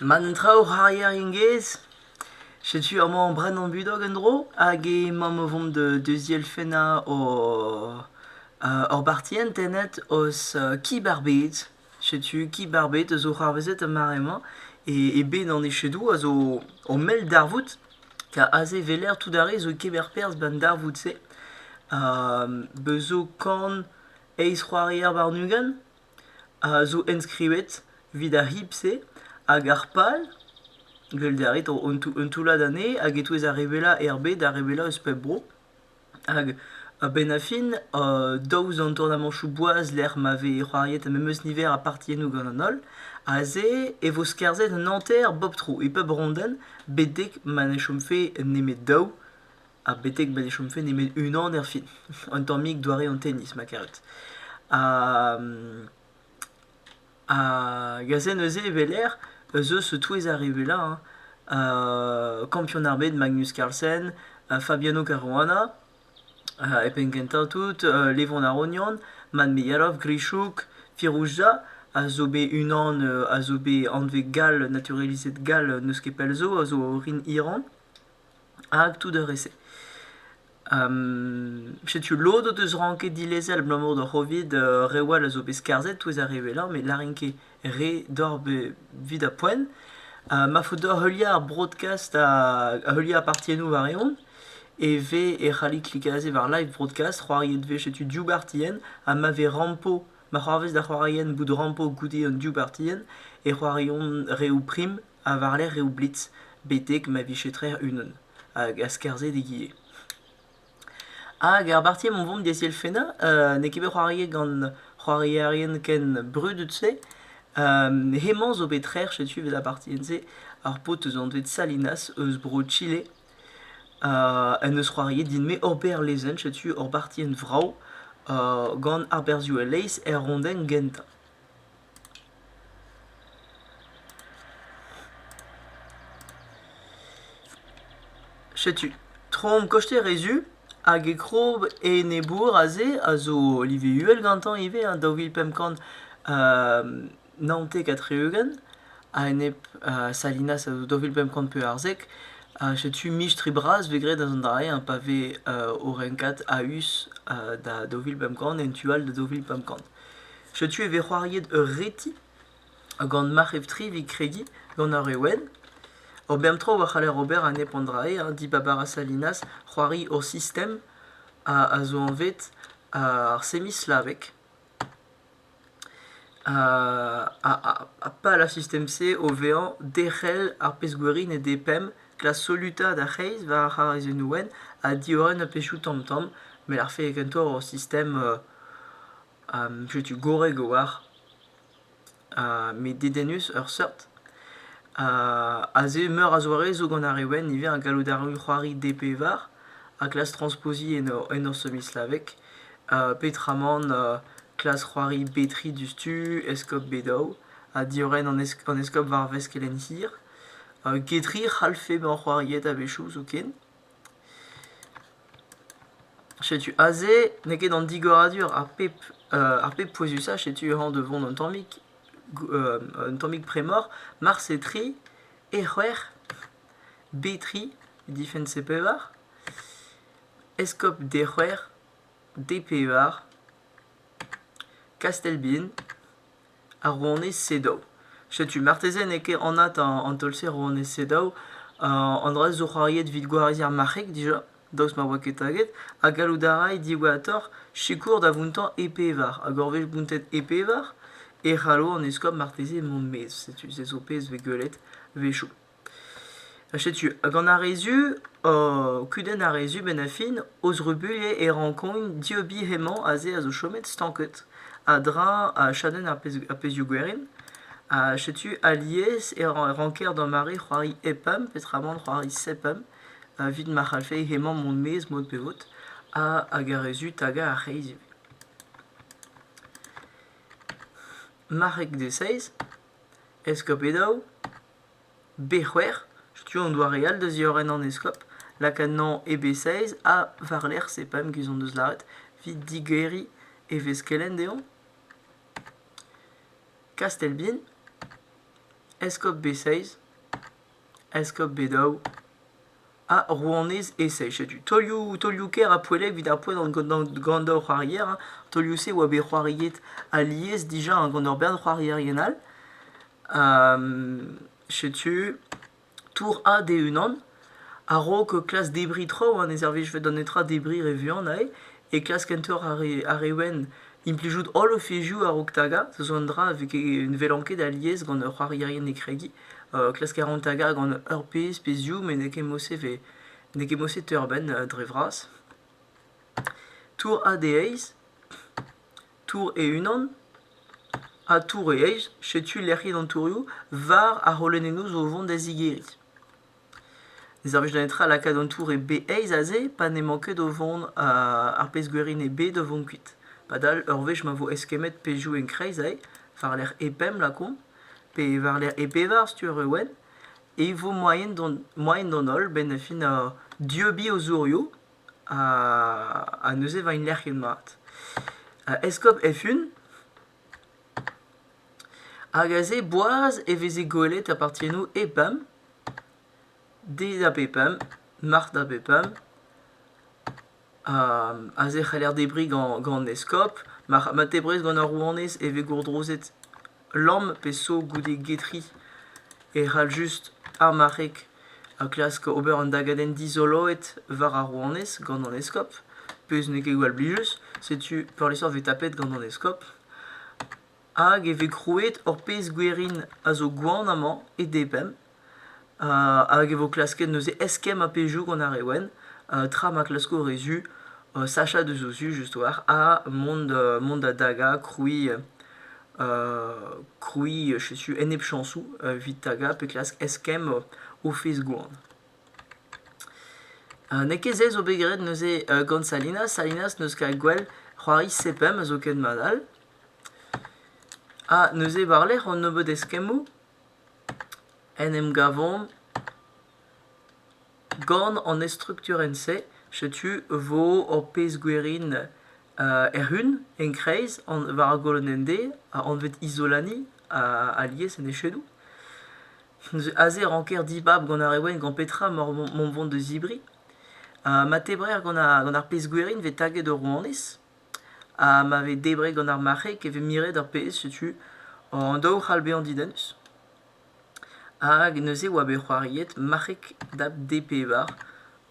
Ma n'en traoù c'hoarier gengez, setu amañ o brenañ budog en-dro hag emaom o vont deuz dielfennañ or bartienn tennet eus Kib ar Bed. Setu Kib ar Bed a zo c'hoarvezet ar mare-mañ e bed an echedoù a zo o mell darvoud ker aze 'weler tout ar re zo kemer perzh ba'n darvoud-se. Beus zo kan eizh c'hoarier warn-ugent. a zo enskrivet evit ar c'hib-se hag ar pal gweled a rit un toullad anezhe hag e-touez ar re wellañ er bed ar re wellañ eus pep bro hag a-benn ar fin daou eus an tournamañtoù boaz lec'h ma vez c'hoariet ar memes niver a partiennoù gant an holl aze e vo skarzhet un hanter bep tro e pep rondenn betek ma ne chomfe nemet daou ha betek ma ne chomfe nemet unan erfin. Un tammig doare an tennis, ma karet. Ha, ha gaze neuze e ez eus touez ar re wellañ. Hein. kampion ar bed Magnus Carlsen, Fabiano Caruana, e penn kentañ tout, Levon ar Ognon, Manmeillarov, Grichouk, Firouzja a zo bet unan a zo bet anvet gall, naturalizet gall n'eus ket pell zo, a zo orin Iran. hag tout ar re-se. setu lod o deus ranket dilezel abalamour d'ur c'hovid uh, reoù all a zo bet skarzhet touez ar re wellañ met lârin ket re doc'h evit ar poent. Uh, ma faot deoc'h heuliañ ar broadcast ha heuliañ partiennoù war-eeun e vez e c'hallit klikañ aze war live broadcast, c'hoariet vez setu div bartienn ha ma vez rampo, ma c'hoarvez da c'hoariañ bout rampo goude an div bartienn e c'hoariont reoù prim ha war-lerc'h reoù blitz betek ma vije trec'h unan hag a-skarzhe d'egile. Hag ar bartier o vont d'ezi elfennañ, n'eo ket bet c'hoariet gant c'hoarierien ken brudet-se. hemañ zo bet trec'h setu evit ar partien-se, ar paotr eus anvet Salinas eus bro Chile en deus c'hoariet din-me ober lezenn setu ur bartien vrav gant ar berzhioù a-leizh er rondenn gentañ. Setu trom koster e zu hag e krob enebour aze a zo live uhel gantañ ivez hein, daou vil pemp kant naontek ha tri-ugent a-enep Salinas a zo daou vil pemp kant pevarzek. setu mistri bras vez graet eus an dra-se hein, pa vez o renkat a-us da daou vil pemp kant en tu all da daou vil pemp kant. Setu e vez c'hoariet ur reti gant marc'hef-tri evit kregiñ gant ar re wenn. Ur bern traoù a c'haller ober ha nep an dra-se hein. Dibab a ra Salinas c'hoari ur sistem a a zo anvet ar semi-slaveg. Ha ha ha pal ar sistem-se o vezañ derc'hel ar pezh-gwirion e D-pemp, klask solutaat ar c'hreiz war ar c'harazennoù wenn ha diorren ar pezhioù tamm-tamm. Met ar fed kentoc'h ur sistem setu gorrek a-walc'h. met dedennus ur seurt. aze meur a zoare zo gant ar re wenn ivez, ar galloud arru, c'hoari, dpevar, ha klask transpoziñ en hor semi-slaveg. peotramant klask c'hoari betri diouzhtu, eskob Bedaou, ha diorren an eskob war vez kelenn hir. getri 'c'hallfe bezañ c'hoariet a-wechoù zoken. Setu aze n'eo ket an digoradur ar pep euh ar pep pouezusañ, setu e ran da vont un tammig un tammig bremor, Marse tri, E c'hwec'h, B tri, Defense E pevar, Eskob D c'hwec'h, D pevar, Kastelbin. ar rouanez Sedaw. Setu marteze n'eo ket anat an taol-se rouanez Sedaw, an dra zo c'hoariet evit gwariz ar marc'heg dija, daoust ma oa ket taget, ha gallout a ray diwezhatoc'h sikour da vountañ e pevar, hag ur wech bountet e pevar, e c'hallo an eskob marteze mont 'maez, setu se zo pezh 'vez gwelet 'wechoù. Ha setu, hag gant ar re zu, kudenn ar re zu benn ar fin, o zrubuilhañ e rankomp dieubiñ hemañ aze a zo chomet stanket a-dreñv chadenn ar pezhioù gwerin. Ha setu alies e ranker da mare c'hoari hep pemp peotramant c'hoari sep pemp evit ma c'hallfe hemañ mont maez mod pe vod hag ar re zu tagañ ar c'hreiz ivez. Marc'heg dezhaizh, eskob e daou, B-c'hwec'h, setu an doare all da ziorren an eskob, lak anezhañ e B-seiz ha war-lerc'h se pemp giz hon deus lâret evit digeriñ e vez kelenn dezhañ Kastelbin, eskob B-seiz, eskob B-daou. Ha rouanez Essex. Setu taolioù taolioù-kaer ha poellek evit ar poent gant, gant hor c'hoarier. Hein. Taolioù-se oa bet c'hoariet alies dija hein, gant ur bern c'hoarierien all. setu Tour A d'e-unan. A-raok klask debriñ traoù, hein, ne servijfe da netra debriñ re vuan aze. e klask kentoc'h ar re wenn implijout holl o fezhioù a-raok tagañ. Ce zo un dra a vez ne welan ket alies gant ur c'hoarierien hekregiñ. klask a ran tagañ gant ur pezh pe ziv met n'eo ket mod-se vez n'eo ket mod-se teuer-benn dre vras. Tour A dezhaizh, tour e-unan ha tour e eizh. Setu lec'hiet an tourioù war ar c'holonennoù zo o vont da zigeriñ. Ne servij da netra lakaat an tour e bed aes aze pa n'emañ ket o vont ar pezh-gwerin e bed o vont kuit. Padal ur wech ma vo eskemmet pezhioù en-kreiz aze, war-lerc'h E pemp lakaomp, pe war-lerc'h E pevar studier Ewen, e vo moaien d'an moaien d'an holl benn fin dieubiñ o zourioù ha neuze 'vo int lec'hiet mat. Eskob Efun Hag aze boaz e veze gwelet apartiennoù EPUM, D da BPUM, MART da BPUM. aze e c'haller debriñ gant gant an eskob. Ma ma tebrez gant ar rouanez e vez gourdrozet lamm pe so goude getri e c'hall just ar marc'heg ha klask ober un dagadenn dizoloet war ar rouanez gant an eskob, pezh n'eo ket gwall blijus, setu peurliesañ e vez tapet gant an eskob. Hag e vez krouet ur pezh gwerin a zo gwan amañ e D-pemp, uh, hag e vo klasket neuze eskemm ar pezhioù gant ar re wenn, uh, tra ma klasko re zu uh, sachañ deus o zu just war, ha mont da mont da dagañ, krouiñ krouiñ setu enepchañsoù evit tagañ pe klask eskemm o fezh-gwan. N'eo ket se zo bet graet neuze gant Salinas. Salinas n'eus ket gwell c'hoari sepem a zo ket mat all. Ha neuze war-lerc'h an nebeud eskemmoù en em gavomp gant an estrukturenn-se. Setu 'vo hor pezh gwerin Erhun, en-kreiz, war a golonende, anvet Isolani, alies en echedoù. Aze e ranker dibab gant ar Ewen gant petra emañ mont vont da zebriñ. ma tebrer gant ar pezh gwerin vez taget ur rouanez, ha ma vez debret gant ar marc'heg e vez miret ar pezh, setu an daou c'hall bezañ didennus. Hag neuze e oa bet c'hoariet Marc'heg Dab D-Pevar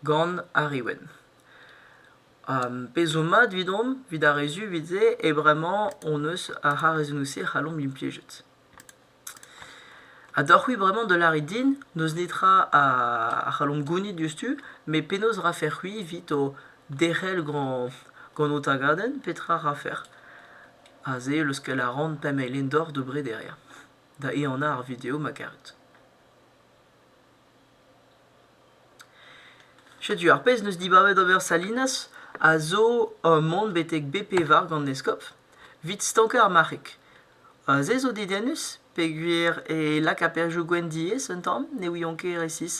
gant ar Ewen. pezh zo mat evidomp, evit ar re zu evit se, eo bremañ hon eus ar c'harrezennoù-se c'hallomp implijet. Ha deoc'h-c'hwi bremañ da lâret din n'eus netra a c'hallomp gounit diouzhtu, met penaos rafec'h-c'hwi evit ho derc'hel gant gant ho tagadenn, petra rafec'h? Ha se leuskel a ran pemp eilenned doc'h da brederiañ, da ehanañ ar video ma karet. Setu ar pezh 'neus dibabet ober Salinas a zo ur mont betek BP war gant eskob 'vit stankañ ar marc'heg. Se zo dedennus peogwir e lak aperioù gwenn diaes un tamm, ne ouion ket resis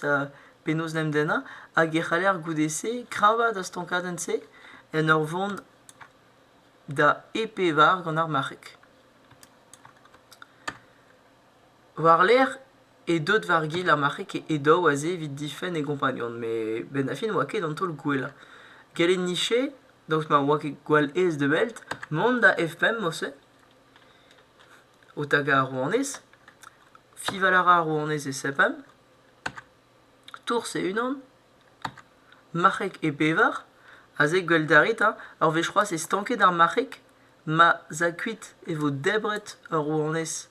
penaos 'n em dennañ hag e c'haller goude-se kreñvaat ar stankadenn-se en ur vont da EP war gant ar marc'heg. War-lerc'h e deut war gil ar marc'heg he daou aze evit difenn e gompagnon met benn ar fin oa ket an taol gwellañ. Gellet niche, daoust ma oa ket gwall aes da wellt, mont da F5 morse. O tagañ ar rouanez, fiñval a ra ar rouanez e S5, tours e-unan, marc'heg e bevar, aze gwell da rit, ur wech c'hoazh e stankit ar marc'heg Ma 'z a kuit e vo debret ur rouanez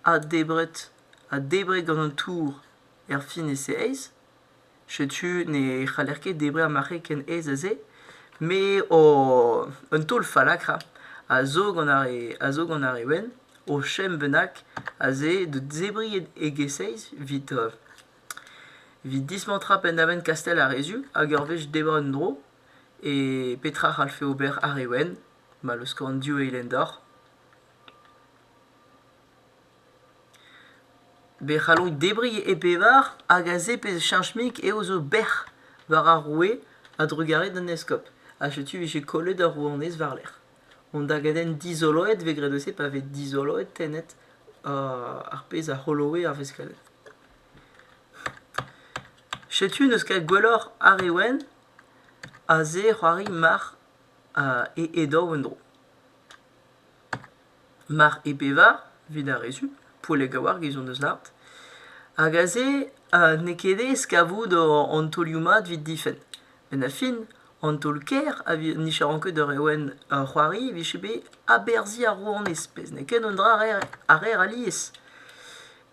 ha debret ha debret gant an tour erfin e se aes. Setu ne c'haller ket debriñ ar marc'heg ken aes ha se. Me ho un taol fallakra a zo gant ar re a zo gant ar re wenn o chemm bennak a se da zebriñ e-ges-aes 'vit evit dismantrañ penn-da-benn Kastell ar Rezul hag ur wech debret un dro E petra 'c'hallfe ober ar re wenn ma leusko an div eilenn deoc'h? Be c'halloit debriñ e pevar hag aze pezh cheñch-mik eo zo bec'h war ar roue a-drugarez d'an eskob. Ha setu e vije kollet ur rouanez war-lerc'h. Hon dagadenn dizoloet 'vez graet eus-se pa vez dizoloet tennet ar pezh a c'holoe ar veskell. Setu n'eus ket gwelloc'h ar re wenn Aze e c'hoari marc'h e edaou en-dro. Marc'h e bevar, evit ar re zu, Pouellek a oar get hon eus lâret. Hag aze n'eo ket aes kavout an taolioù-mat evit difenn. Met a fin, an taol-kaer a nijaran ket ur Ewen c'hoari e vije bet aberzhiñ ar rouanez, pezh n'eo ket un dra a reer alies.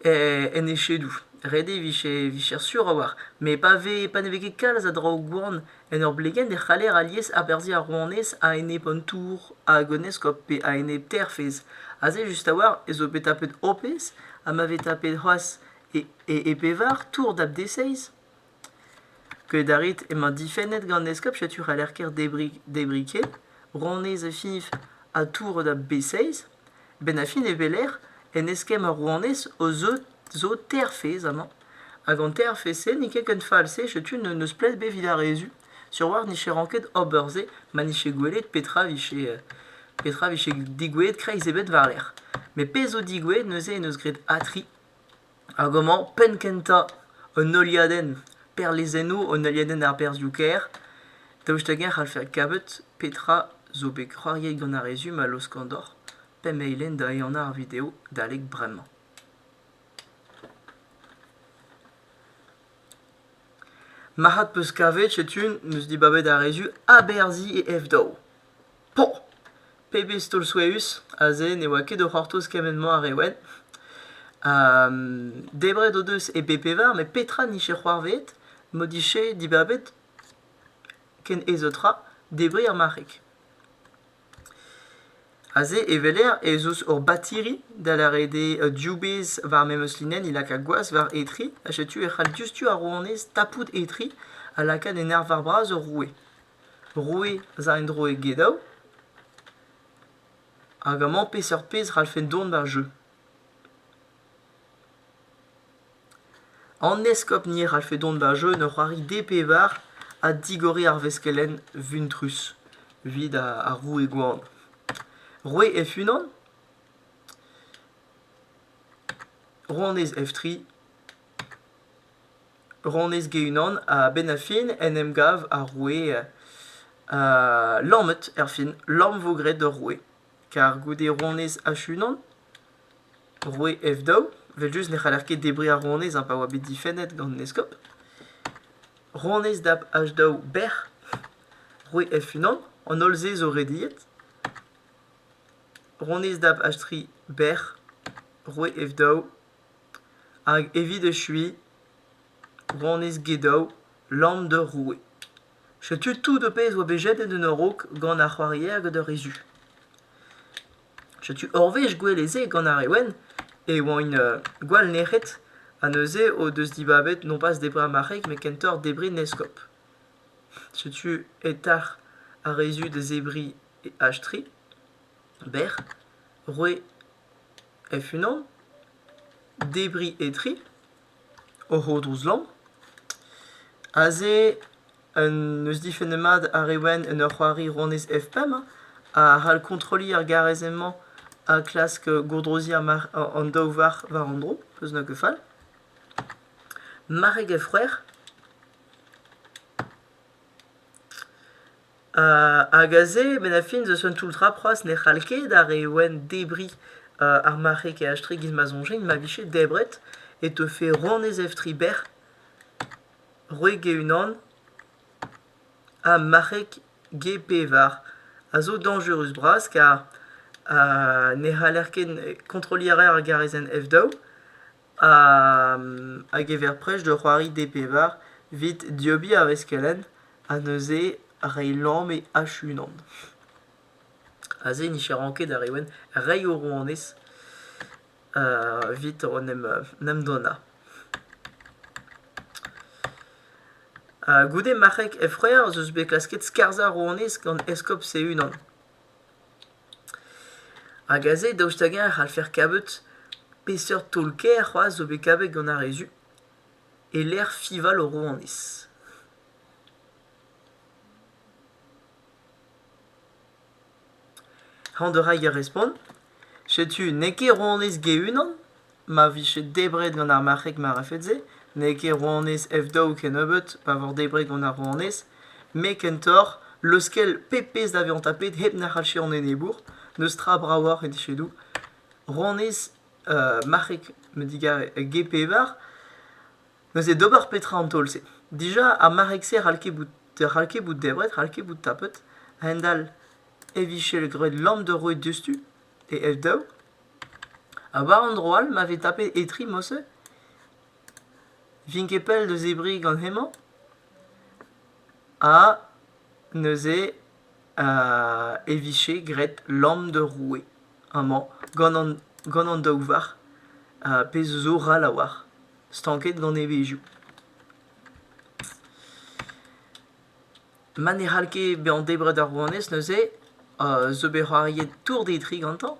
en echedoù. Ret eo vicher sur a-walc'h. Met pa ne vez ket kalz a draoù gwan en ur blegenn e c'haller alies aberzhiñ ar rouanez a-enep an tour hag an eskob pe a-enep Terfez. Aze just a-walc'h ez eo bet tapet Hopez ha ma vez tapet c'hoazh e pevar tour dap dezhaizh. Keuet a rit emañ difennet gant eskob setu c'haller-kaer debriñ ket rouanez Efif ha tour da b-6. A-benn ar fin e weler en eskemm ar rouanez o zo Terfez amañ hag an Terfez-se n'int ket ken fall-se setu n'eus pled ebet evit ar re zu. Sur 'oar n'viche ranket ober se ma n'vije gwelet petra vije digoueet kreiz ebet war-lerc'h. Met pezh zo digoueet neuze en deus graet Atri. Hag amañ penn-kentañ un heuliadenn perlezennoù, un heuliadenn ar berzhioù-kaer. Daoust hag-eñ e c'hallfe adkavout petra zo bet c'hoariet gant ar rezum a laoskan deoc'h pemp eilenn da ehanañ ar video adalek bremañ. Marc'had 'peus kavet setu 'm eus dibabet ar rezum aberzhiñ e F-daou. Poh! Pebezh taol souezhus! Aze ne oa ket o c'hortoz kement-mañ ar re wenn. Debret o deus e bep-pevar met petra 'nije c'hoarveet m'o dije dibabet ken aesañ tra debriñ ar marc'heg? Aze e weler ez eus ur batiri da lâret eo div bezh war memes linenn he laka gwazh war he tri ha setu e c'hall diouzhtu ar rouanez tapout he tri ha lakaat e nerzh war bras ur roue. roue eus ar endro egedaou hag amañ peseurt pezh e c'hallfen dont war jeu. An eskob ni a c'hallfe dont war jeu en ur c'hoari D-pevar ha digoriñ ar veskelenn vuntrus evit ar roue gwan. Roue F-unan, rouanez F3 Ronez Ge-Unan a-benn ar fin en em gav ar roue lammet erfin, lamm vo graet ur roue. Kar goude ronez H-Unan, roue F-daou, evel-just ne c'haller ket debriñ ar ronez pa oa bet difennet gant an eskob. Ronez dap H-daou bec'h roue F-Unan, an holl-se zo rediet. Ronez dap H-tri bec'h roue F-daou Hag evit echuiñ, Ronez Gedow, lamm d'ur roue. Setu tout ho pezh oa bet jedet en ur raok gant ar c'hoarier gant ur re zu. Setu ur wech gouelezh-se gant ar re wenn e oant uh, gwall nec'het ha neuze o deus dibabet non pas debriñ ar marc'heg met kentoc'h debriñ an eskob. Setu e-talc'h ar re zu da zebriñ Ashtri, bec'h, roue F-unan, debriñ etre, o c'hodrouz-lamm. Aze n'eus difenn mat ar re wenn en ur c'hoari rouanez F5 a c'hall kontrolliñ ar garrezell-mañ ha klask gourdroziñ an daou varc'h war an dro, peus na ket fall. Mareg F-c'hwec'h. Hag aze, benn-ar-fin, deus un toull-tra c'hoazh ne c'hall ket ar re wenn debriñ ar marc'heg eaje-tre giz ma soñjen ma vije debret e teufe ronez evtri bec'h, wreg e-unan ha marc'heg ge-pevar a zo dañjerus-bras kar ne c'haller ket kontrolliñ a raer ar garezenn F daou. a gever prest da c'hoari D-pevar 'vit dieubiñ ar veskelenn ha neuze reiñ lamm e H-unan. Aze nicheran ket ar re wenn, reiñ o rouanez 'vit en em donnañ. Goude marc'heg Efreer ez eus bet klasket skarzhañ rouanez gant eskob Sehunan. Hag aze, daoust hag-eñ e c'hallfer kavet peseurt taol-kaer c'hoazh zo bet kavet gant ar re zu e-lec'h fiñval o rouanez. Hañ, da reiñ ar respont. Setu n'eo ket rouanez Ge-Unan ma vije debret gant ar marc'heg marafet-se, n'eo ket rouanez F-daou kennebeut pa vo debret gant ar rouanez, me kentoc'h leuskel pep pezh da vezañ tapet hep na c'hallfe an enebour, n'eus tra bravoc'h e dije doù. Rouanez marc'heg me digarez G-pevar, neuze d'ober petra an taol-se? Dija ar marc'heg-se c'hall ket bout c'hall ket bout debret, c'hall ket bout tapet a-hend-all e vije graet lamm da roiñ diouzhtu e ev-daou. Ha war an dro all ma vez tapet Etri Mose, vin ket pell da zebriñ gant hemañ. Ha neuze euh, e vije graet lamm de roue amañ gant an, gant an daou varc'h, uh, pezh zo ral a-walc'h, stanket gant evezhioù. ma ne c'hall ket bezañ debret ar rouanez neuze zo bet c'hoariet tour d'e dri gantañ.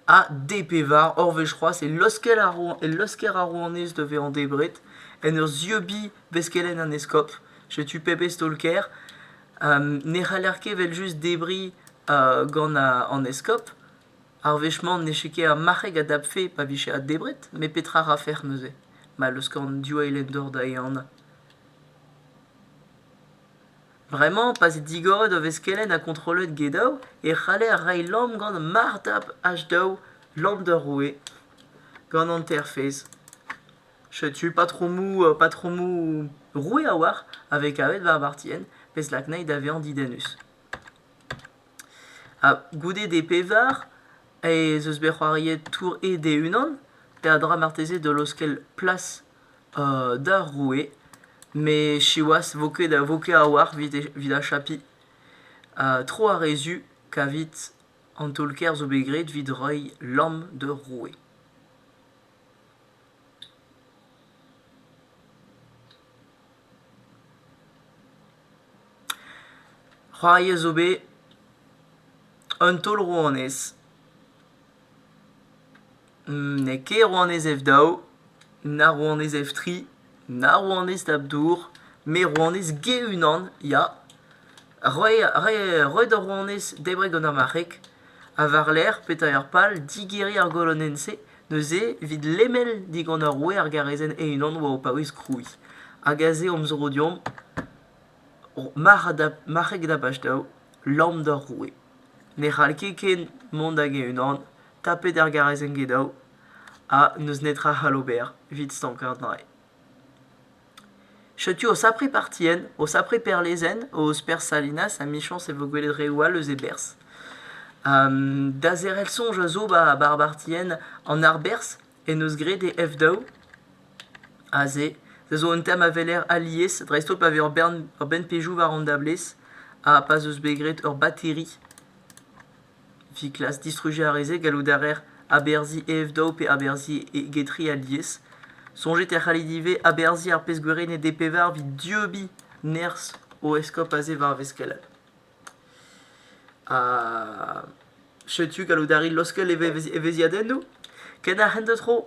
Ha D pe var, hor wech c'hoazh, e laosker ar rouan- e laosker ar rouanez da vezañ debret en ur zieubiñ veskelenn an eskob. Setu pebezh taol-kaer. ne c'haller ket evel-just debriñ gant an eskob. Ar wech-mañ n'eche ket ar marc'heg a dapfe pa vije addebret. Met petra 'rafec'h neuze ma laoskan div eilenn-dor da ehanañ? Bremañ, pa vez digoret o veskelenn ha kontrollet get-daou e c'haller reiñ lamm gant martap H-daou, lamp d'ur roue, gant hanterfez. Setu patromoù patromoù roue a-walc'h a vez kavet war vartienn, pezh lak anezhi da vezañ didennus. Goude d'e pevar ez eus bet c'hoariet tour ed e-unan peadra marteze da laoskel plas d'ar roue met siwazh 'vo ket vo ket a-walc'h evit achapiñ tro ar re zu kavit an taol-kaer zo bet graet evit reiñ lamm d'ur roue. C'hoari a zo bet un taol rouanez. N'eo ket rouanez F daou, na rouanez F tri, na rouanez Dab dour, met rouanez G unan ya. roet ur rouanez debreg gant ar marc'heg ha war-lerc'h petra pal digeriñ ar golonenn-se neuze evit lemel digant ar roue ar garazenn e-unan war o paouez krouiñ hag aze omp zo deomp marc'heg da bastav lamm d'ar roue ne c'hall ket ken mont hag e-unan tapet ar garazenn get daou ha n'eus netra c'hall ober evit stankañ an drailh Setu o sapre partien, o sapre perlezenn, o ouzh perzh Salinas ha michañs e vo gwelet reoù all eus e berzh. da zerc'hel soñj a zo ba ar bartien an arberzh en deus graet e F daou aze. Se zo un tem a weler alies dreist-holl pa vez ur bern ur benn pejoù war an dablez ha pa'z eus bet graet ur bateri. Viklas distrujañ a reze gallout a reer aberzhiñ e evdaou pe aberzhiñ e gedri alies. Soñjet e c'hallit ivez aberzhiñ ar pezh gwerennet e pevar evit dieubiñ nerzh o eskob aze war ar veskellad. Ha setu gallout a rit laoskel evez- evezhiadennoù. Ken a hent da tro!